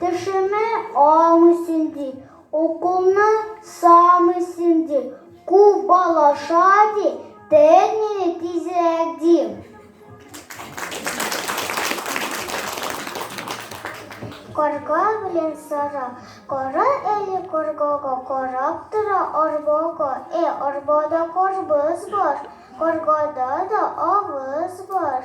Тешемә алмыйсың ди, уколны салмыйсың ди, кубалаша ди, тел мине тизрәк ди. Карга белән сара, кара әле каргага, карап тора арбага, э, арбада карбыз бар, каргада да авыз бар.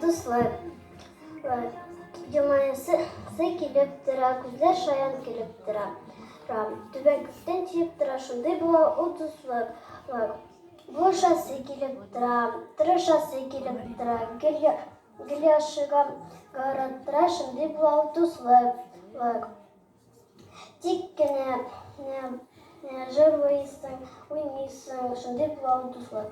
Дуслар, Юмаясы килеп тора, күзләр шаян килеп тора. Түбән күктән тиеп тора, шундый була ул дуслык. Булышасы килеп тора, тырышасы килеп тора, гел яшыга гараттыра, шундый була ул дуслык. Тик кенә җырлыйсың, уйныйсың, шундый була ул дуслык.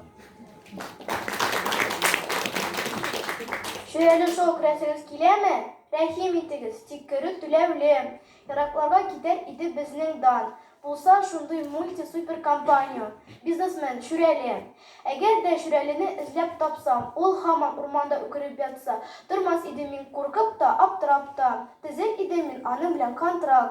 Шүрәле шок, рәсегез киләме? Рәхим итегез, тик керү түләүле. Еракларга китәр иде безнең дан, Булса шундый мульти-супер компанио. Бизнесмен, Шүрәле. Әгәр дә Шүрәлене эзләп тапсам, ул һаман урманда үкереп ятса, тормас идем мин куркып та, аптырап та. Төзер идем мин аның белән контракт.